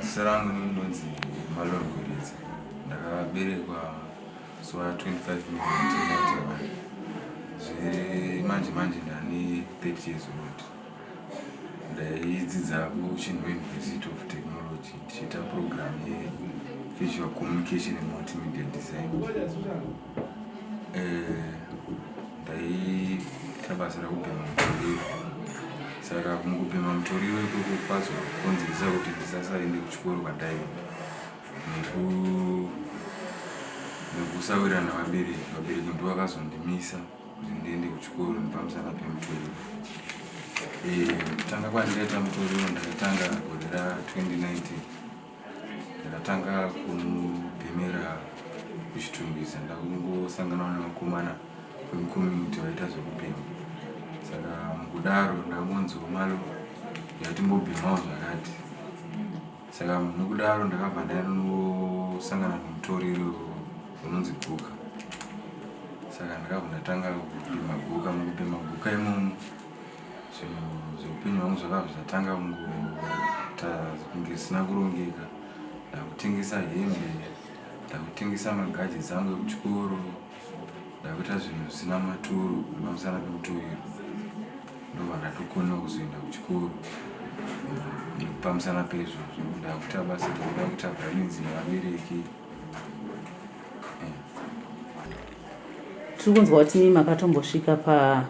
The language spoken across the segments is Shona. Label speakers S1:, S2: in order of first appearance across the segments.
S1: Zita rangu ini ndinonzi Malon Gweredza. Ndakaberekwa zuva 25 May 1991 zve manje manje ndane 30 years old. Ndaidzidza kuChinhoyi University of Technology ndichiita program yeVisual Communication and Multimedia Design. Eh, Ndaiita basa rekubhema mutoriro saka mukubhema mutoriro ikoko kwazokonzeresa kuti ndisasaende kuchikoro kwadai nekusawirirana vabereki vabereki ndo vakazondimisa kuti ndiende kuchikoro nepamusana pemutoriro kutanga eh, kwandikaita mutoriro ndakatanga gore ra 2019 Ndakatanga kumubhemera kuchitungwiza ndakungosanganawo nevakomana vemucommunity vaita zvekubhema saka mukudaro ndakangonziwo malo yatimbobhemawo zvakati saka nokudaro ndakabva ndainosangana nemutoriro unonzi guka saka ndakabva ndatanga kubhema guka mukubhema guka imomo zvinhu zveupenyu hwangu zvakava zvichatanga kungoita kunge zvisina kurongeka ndakutengesa hembe ndakutengesa magajets angu ekuchikoro ndakuita zvinhu zvisina maturo pamusana pekuturirwa ndobva ndatokona kuzoenda kuchikoro pamusana pezvozvo ndakuita basa rekuda kuita brains nevabereki
S2: tiri kunzwa kuti makatombo svika pa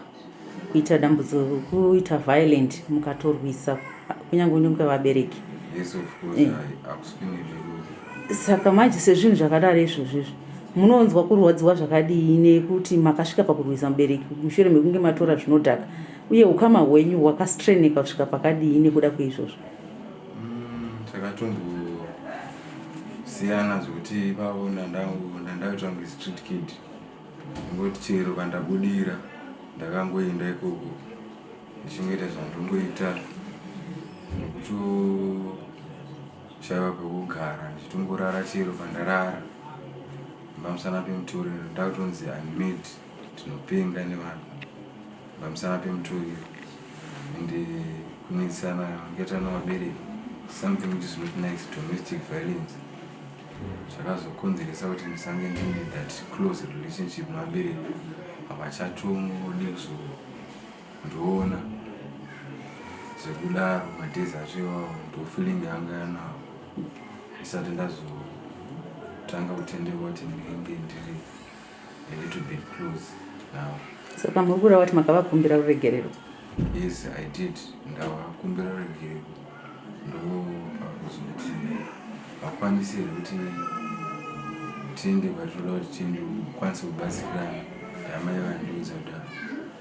S2: kuita dambudziko kuita violent mukatorwisa kunyange unenge vabereki yes of
S1: course eh. saka
S2: manje sezvinhu zvakadaro izvozvo izvo munonzwa kurwadziwa zvakadii nekuti makasvika pakurwisa mubereki mushure mekunge matora zvinodhaka uye ukama hwenyu hwakastreneka kusvika pakadii nekuda kweizvozvo mm, takatombosiyana
S1: zvekuti ipapo ndandaitangwe street kid Ndingoti chero pandabudira ndakangoenda ikoko ndichingoita zvandongoita nekutoshaiwa pekugara ndichitongorara chero pandarara pamusana pemutoriro ndakutonzi unmid tinopenga nevanhu pamusana pemutoriro and kunetsana yakaita nevabereki something which is not nice domestic violence zvakazokonzeresa kuti ndisange ndine that close relationship nevabereki apa chatongode kuzondiona zvekudaro madays acho iwawo ndofeeling yanga yanawo ndisati ndazotanga kutendeuka kuti ndinenge ndiri a little bit close now. Saka muri kura
S2: vati makavakumbira ruregerero? Yes, I
S1: did. Ndavakumbira ruregerero ndo pakuzoti vakwanise kuti tiende kwatinoda kuti tiende kukwanisa kubatsira amai vandiudza kudaro.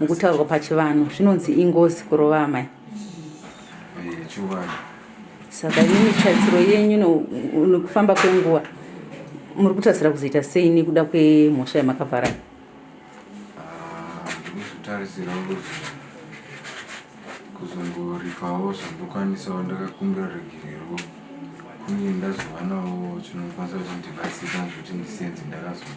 S2: mukutaurwa pachivanhu zvinonzi ingozi kurova amai yechivanhu
S1: saka imimi
S2: tarisiro yenyu nekufamba kwenguva muri kutarisira kuzoita sei nekuda kwemhosva yamakavhara ndikuzvitarisira
S1: ah, kuti kuzongoripawo zvandokwanisawo ndakakumbira regerero kunge ndazovanawo chinokwanisa kuti ndibatsira zvekuti ndisenze ndakazoa